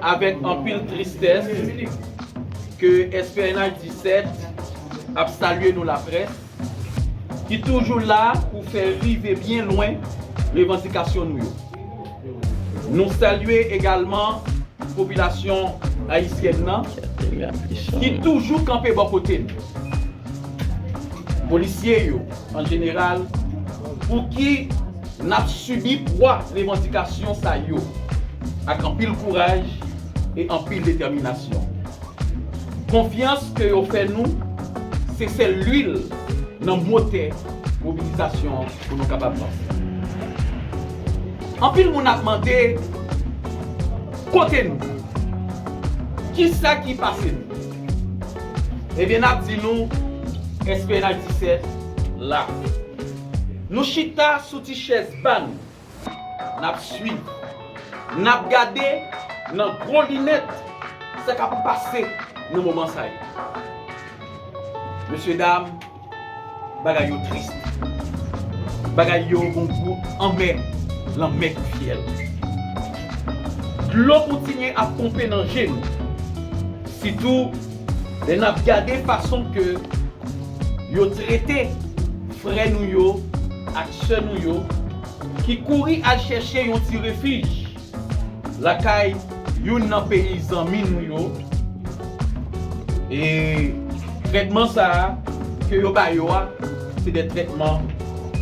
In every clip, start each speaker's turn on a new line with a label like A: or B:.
A: Avèk anpil tristès ke SPNH 17 ap salye nou laprès ki toujou la pou fè rive byen lwen revandikasyon nou yo. Nou salye egalman popilasyon ayisyèn nan ki toujou kanpe bò kote n. Polisye yo, an jeneral, pouki n ap sibi pwa revandikasyon sa yo ak anpil kouraj e anpil detèminasyon? Konfyans ke yo fè nou se sèl lwil nan motè mobilizasyon an pou nou kapab vanse. Anpil moun ap mande, Kote nou? Kisa ki pase nou? Ebyen nap di nou SPNH 17 la. Nou chita sou ti chèz pa nou. Nap swiv. Nap gade nan gwo linèt sa kap pase nan moman sa yo. Mesye dam. Bagay yo tris. Bagay yo gon gou anmè. Lanmè kou fyèl. Dlo kontinye ap ponpe nan je nou. Sitou lè nap gade fason ke yo trete frè nou yo ak sè nou yo ki kouri al chèche yon ti refij. Lakay youn nan peyi zanmi nou yo, e trètman sa a ke yo ba yo a se de trètman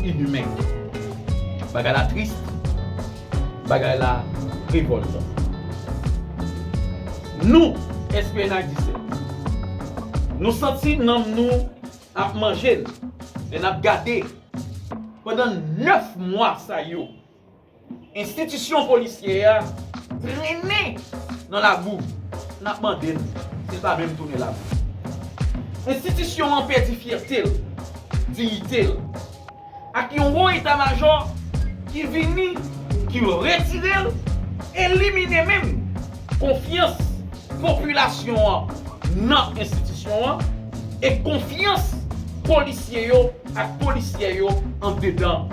A: inhumain. Bagay la tris, bagay la revoltan. Nou, SPNHDISM, nou santi nanm nou ap manje n lè n ap gade pandan 9 mwa sa yo, Enstitisyon polisyè a trennen nan labou, n ap mande n si l pa menm tounen labou. Enstitisyon an pèdi fyète l, diyite l, ak yon wo eta majò ki vini, ki retire l, elimine menm konfyans popilasyon an nan enstitisyon an e konfyans polisye yo ak polisyè yo andedan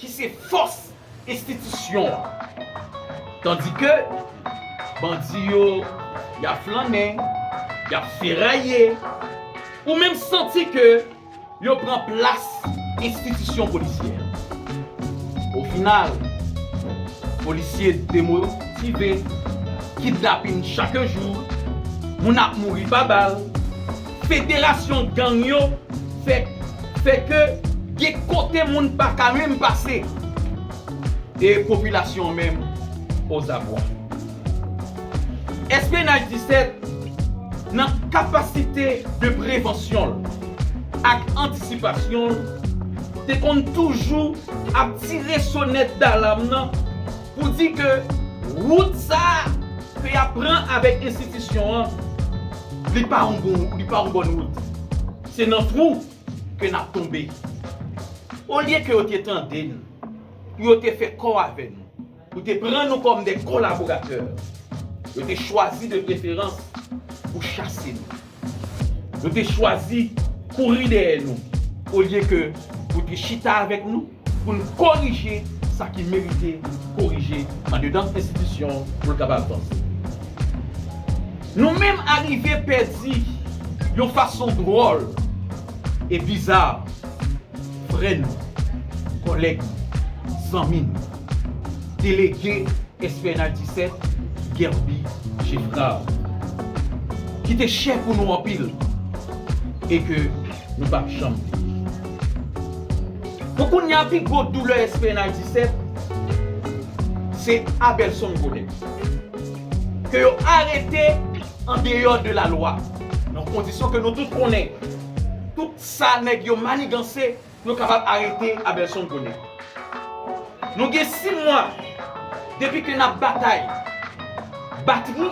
A: ki se fòs enstitisyon an. Tandi ke bandi yo y ap flannen, y ap feraye, ou menm santi ke yo pran plas enstitisyon polisyè an. O final, polisye demotive, kidnapin chak jou, moun ap mouri pa bal, Federasyon gang yo fè fè ke gen kote moun pa ka menm pase e popilasyon an menm ozabwa. Espionage 17, nan kapasite de prevansyon l ak antisipasyon l, te konn toujou ap tire sonèt dalam nan, Pou di ke wout sa a ke y ap pran avèk enstitisyon an, li pa yon bon, li pa yon bòn wout. Se nan twou ke n ap tonbe. Olye ke yo te tande nou, pou yo te fè kò avè nou, pou te pran nou kòm de kolaboratè, yo te chwazi de preferans pou chase nou. Yo te chwazi kouri dèyè nou olye ke pou te chita avèk nou pou n korije sa ki merite korije andedan enstitisyon pou l kapab vanse. Nou menm arive pèdi yon fason dwòl e biza Frè nou, kòlèg nou, zanmi nou, delege Esplanad 17, Guerby Geffrard, ki te chè pou nou anpil e ke nou pap janm bliye. Pou kounya pi gwo doulè Esplanad 17, se Abelson Godet, ke yo arete andeyò de lalwa, nan kondisyon ke nou tout konnen. Sa nèg yo maniganse yo kapab arete Abelson konnen. Nou gen 6 mwa depi ke nap batay. Batri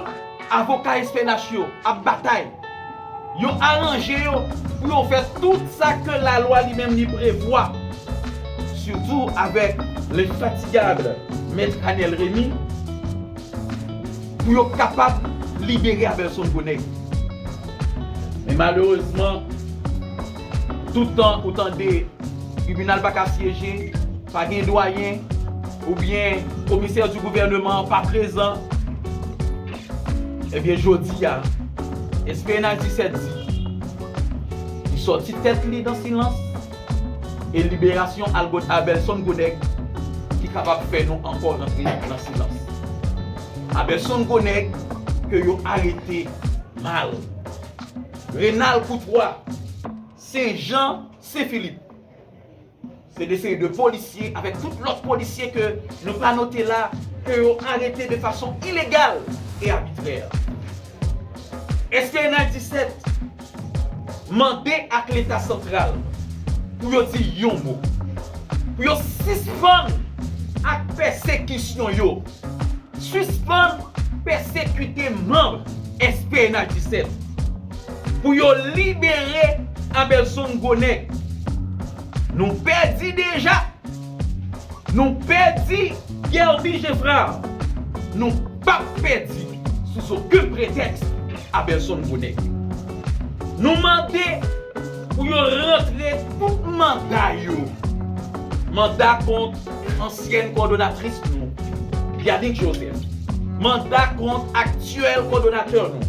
A: avoka SPNH yo ap batay. Yo aranje yo pou yo fè tout sa ke lalwa li menm li prevwa. Sitou avèk l'infatigable Mèt Anel Remy. Pou yo kapab libere Abelson Gonaive. Men malerezman, tout tan ou tande tribinal pa ka syeje, pa gen dwayen, oubyen komisè di gouvèneman an pa prezan, ebyen jodi a, SPNH 17 di, li sòti tèt li dan silans, E liberasyon Algod Abelson gwo nèg ki kapab fè nou ankò rantre nan silans. Abelson gwo nèg ke yo arete mal. Renal Koutwa, Sen Jan, Sen Filip. Se de seri de polisye avèk tout lòt polisye ke nou pa note la ke yo arete de fason ilegal e abitrè. Eske nan 17 mande ak leta santral pou yo di yon mo. Pou yo sispann ak pèsekisyon yo. Sispann pèsekite manb SPNH 17. Pou yo libere Abelson Gwo Nèg. Nou pèdi deja. Nou pèdi Guerby Geffrard nou pap pèdi sou zokenn pretèks Abelson Bonnet. Nou mande pou yo rantre tout manda yo, manda kont ansyèn kòdonatris nou Yanick Joseph, manda kont aktyèl kòdonatè nou.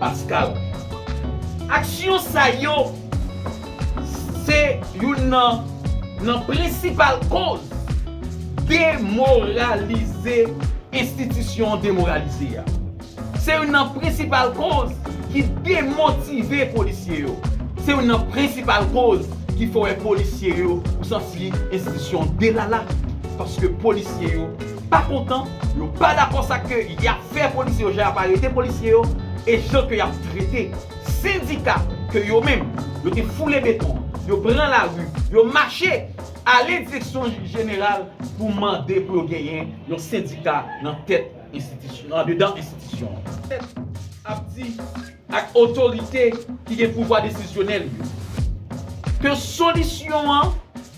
A: Pascal. Aksyon sa yo se youn nan nan prensipal koz demoralize enstitisyon demoralize a. Se youn nan prensipal koz ki demotive polisye yo. Se youn nan prensipal koz ki fè w wè polisye yo ou santi enstitisyon delala paske polisye yo pa kontan, yo pa dakò sa ke y ap. fè polisye yo jan yap arete polisye yo e jan ke yap trete sendika ke yo menm yo te foule beton an, yo pran lari, yo mache ale direksyon jeneral pou mande pou yo genyen yon sendika nan tèt enstitisyon andedan enstitisyon an. Tèt ap di ak otorite ki gen pouvwa desizyonèl yo ke solisyon an.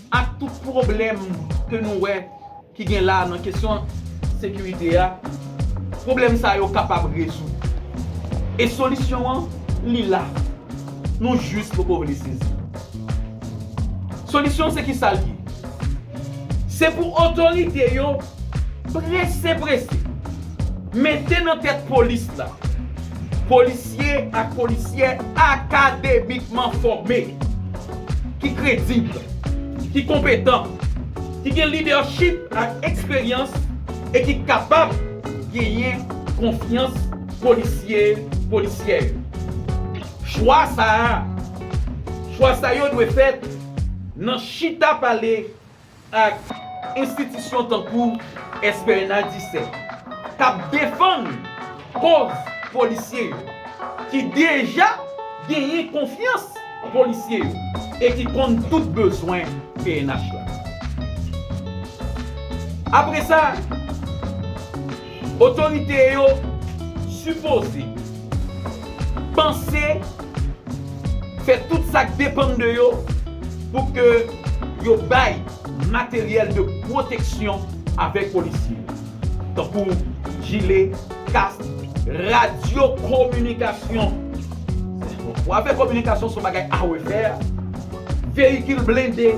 A: Ak tout pwoblèm ke nou wè ki gen la nan kesyon sekirite a, pwoblèm sa yo kapab rezoud. E solisyon an, li la. Nou jis poko vle sezi. Solisyon se kisa li ye? Se pou otorite yo. Prese prese, mete nan tèt polis la, polisye ak polisyè akademikman fòme, ki kredib, ki konpetan, ki gen lidèchip ak eksperyans e ki kapab genyen konfyans polisye, polisyè yo. Chwa sa a, chwa sa yo dwe fèt nan chita pale ak enstitisyon tankou SPNA 17 k ap defann koz polisye yo ki deja genyen konfyans polisye yo e ki konn tout bezwen pnh la. Apresa. Otorite yo sipoze panse fè tout sa k depann de yo pou ke yo bay materyèl de pwoteksyon avèk polisye yo, tankou jile, kask, radyo kominikasyon, w apè kominikasyon se yon bagay a refè, veyikil blende.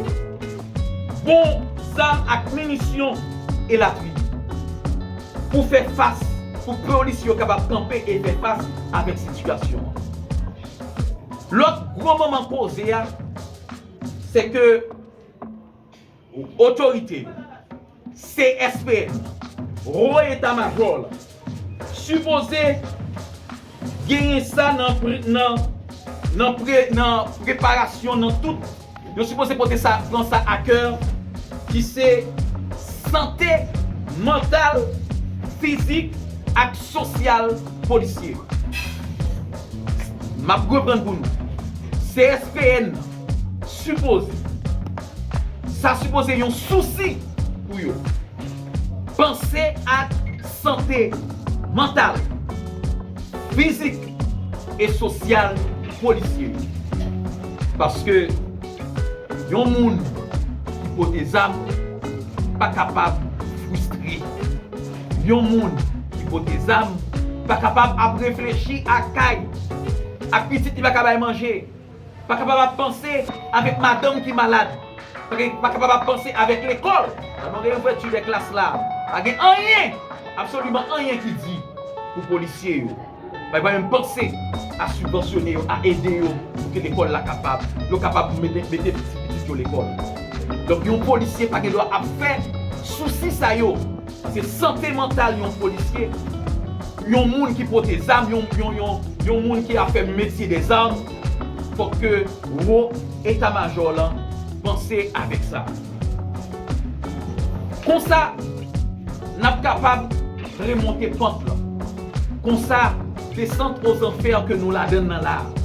A: bon zam ak minisyon, elatriye. Pou fè fas, pou polis yo kapab kanpe e fè fas avèk sitiyasyon an. Lòt gwo manman koze a, se ke otorite yo. CSPN, Wo Eta Majò la, sipoze genyen sa nan preparasyon nan tout, yo sipoze pote sa, pran sa a kè, ki se sante mantal, fizik ak sosyal polisye yo. M ap reprann pou nou. CSPN. Sipoze. Sa sipoze yon sousi pou yo. Panse ak sante mantal, fizik e sosyal polisye yo. Paske yon moun ki pote zam pa kapab fristre. Yon moun ki pote zam pa kapab ap reflechi ak kay, ak pitit li pa ka bay manje. Pa kapab ap panse avèk madanm ki malad. Pa kapab ap panse avèk lekòl. Tèlman gen ouvèti dè klas la. Pa gen anyen, absoliman anyen ki di pou polisye yo. Pa menm panse a sibvansyone yo, a ede yo pou ke lekòl la kapab, yo kapab mete pitit yo lekòl. Donk yon polisye pa gen dwa ap fè sousi sa yo. Paske sante mantal yon polisye, yon moun ki pote zam, yon moun ki ap fè metye dè zam, fòk ke wo eta majò lan panse avèk sa. Konsa, n ap kapab remonte pant lan. Konsa, desant ozanfè ke nou ladann nan la a.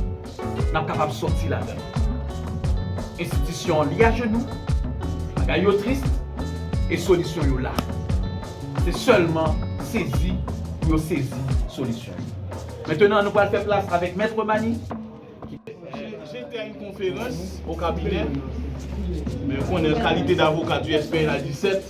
A: n ap kapab sòti ladan l. Enstitisyon an li ajenou, bagay yo tris e solisyon yo la. Se sèlman sezi pou yo sezi solisyon yo. Mentenan nou pral fè plas avèk Mèt Remani ki te fè.
B: Je te a une conférence au cabinet, me konnen kalite d'avocat du SPNH 17.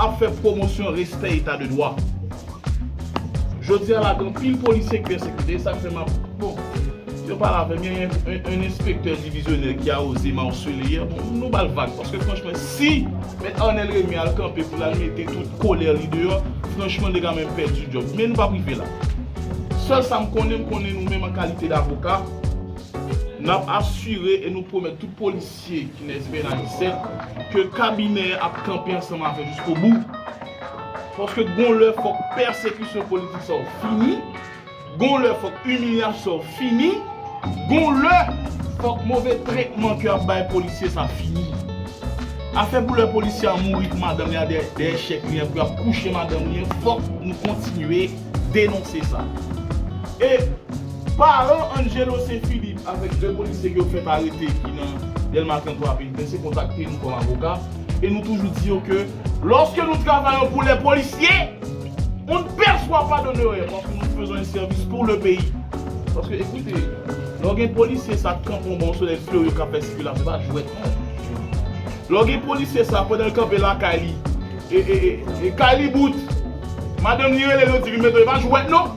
B: ap fè pwomosyon respè eta de dwa. Jodi a la gen anpil polisye ki pèsekite e sa k fè m ap, bon, yo pale avè m, gen yon enspektè divizyonè ki a oze m arsele yè, bon, nou ba l vag paske franchman si Mèt Arnel Rémy al kanpe pou l al mete tout kolè li deyò, franchman li te ka menm pèdi djòb. Men nou pap rive la. Sèl sa m konnen, m konnen nou menm an kalite davoka, n ap asire e nou pwomèt tout polis dosye Kenneth Bernadicet ke kabinè a ap kanpe ansanm avè jiskobou. Paske gon lè fòk pèsekisyon politik sa yo fini, gon lè fòk imilyasyon sa yo fini, gon lè fòk move tretman ke y ap bay polisye sa fini. Afè pou lè polisye a mouri pou madanm li a dèyè chèk li an pou y ap kouche madanm li an fòk nou kontinye denonse sa. E. Paran Angelo Saint Philippe avèk 2 polisye ke yo fèt arete ki nan Delma 33 a Penitencier kontakte nou kòm avoka e nou toujou di yo ke lòske nou travayon pou lè polisye on ne perçoit pas d'honoraires paske nou fezon un service pour le pays paske ekoute lè w gen polisye sa kanpe yon bò yon solèy fleuri kap fè sikilasyon se pa jwèt non lè w gen polisye sa pandan l kanpe lakay li e e e kay li bout madanm li rele l yo di vin mete w e pa jwèt non.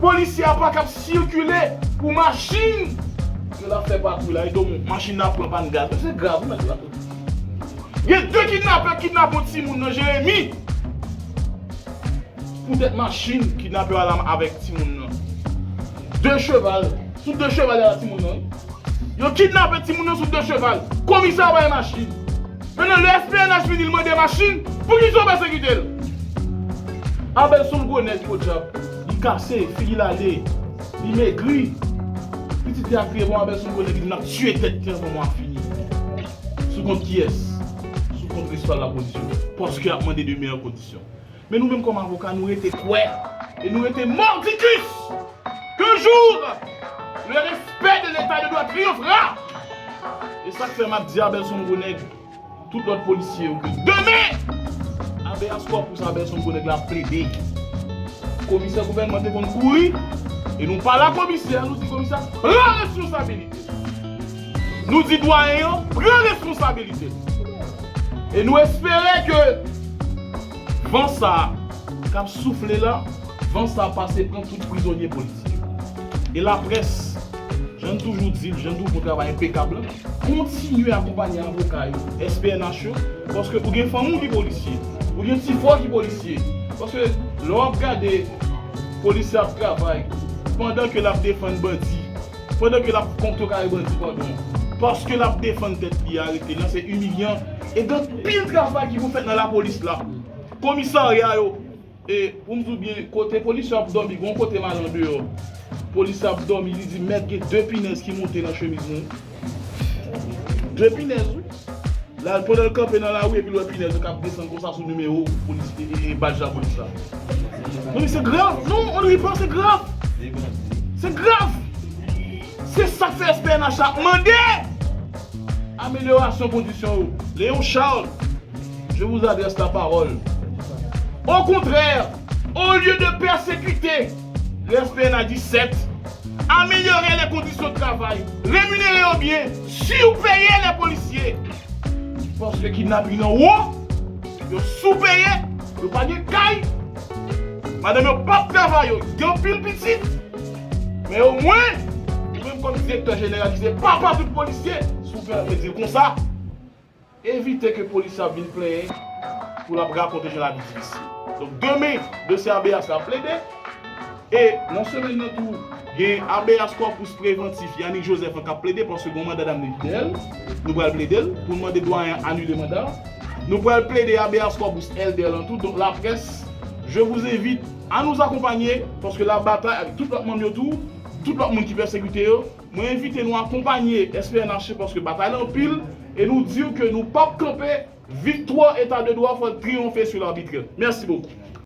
B: Polisye a pa kab sikile pou machin yo t ap fè patwouy la edo moun machin nan ap pran pàn gaz men se grav wi mesye dam yo di gen 2 kidnapè k kidnape yon timoun nan jeremi poutèt machin kidnapè yo al avèk timoun nan 2 cheval sou 2 cheval yo al ak timoun nan wi yo kidnape timoun nan sou 2 cheval komisa bay machin. Mennen lè SPNH vini l mande machin poukisaw pa se kite l. Abel son gwo nèg podyab li kase figi l ale li megri pitit li a kriye bon Abel son gwo nèg li menm lap tiye tèt li anvan mwa fini sou kont kiyès sou kont prensipal lapolis yo paske yap mande 2 meyè kondisyon. Men nou menm kòm avoka nou rete kwè e nou rete mordicus ke jour le respect de l'Etat de droit triomphera! E sak fè map di Abelson gwo nèg tout lòt polisye yo ke demen Habeas corpus Abelson gwo nèg la ap plede komisè gouvènman te konn kouri e nou pa la komisè nou di komisè pran responsabilite w. Nou di dwayen yo pran responsabilite l e nou espere ke van sa a k ap soufle la, van sa a pase pran tout prizonye politik yo. E laprès, jan n toujou di l, jan n toujou fè yon travay enpekab la, kontinye akonpanye avoka yo, SPNH yo, paske ou gen fanmi w ki polisye, ou gen ti frè w ki polisye, paske lè w ap gade polisye ap travay pandan ke l ap defann bandi. Pandan ke lap kontrekare bandi pandon paske lap defann tèt li arete nan se imilyan e gen anpil travay ki pou fèt nan lapolis la komisarya yo e poum diw byen kote polisye yo ap dòmi gon kote mal andeyò polisye ap dòmi li di mèt gen de pinèz ki monte nan chemiz mwen de pinèz wi. Lal pandanl kanpe nan lari epil wè pinèz yo kap desann konsa sou nimewo polis e badj lapolis la. Mezanmi se grav non on ri pas se grav se grav se sak fè SPNH la ap mande amelyorasyon kondisyon yo Léon Charles je vous adresse la parole au contraire au lieu de persécuter Respè na 17. Amelyore lè kondisyon travay, reminere yo byen, siw peye lè polisye. Paske kidnaping nan wo, yo sou peye, yo pa gen kay, madanm yo pap travay yo gen anpil pitit, men o mwen ou menm kòm direktè jeneral ki se papa tout polisye si w fè yon mezi konsa. Evite ke polisye ap vin plenyen pou lap rakonte jan lavi difisil. Donk demen dosye abeyas la ap plede e nan semèn nan tou gen abeyas 3 pous prevantif Yanick Joseph an kap plede paske gon manda damne ki dèyèl nou pral pledel poun mande dwayen an anile manda a. Nou pral plede abeyas 3 pous Elder lan tou donk la près je vous invite a nous accompagner paske la batay avèk tout lòt manm yo tou tout lòt moun ki pèsekite yo. Mwen envite nou akonpanye SPNH paske batay lan anpil e nou diw ke nou pap kanpe, viktwa eta de dwa fòl triyonfe su l'arbitre. Mèsi bokou.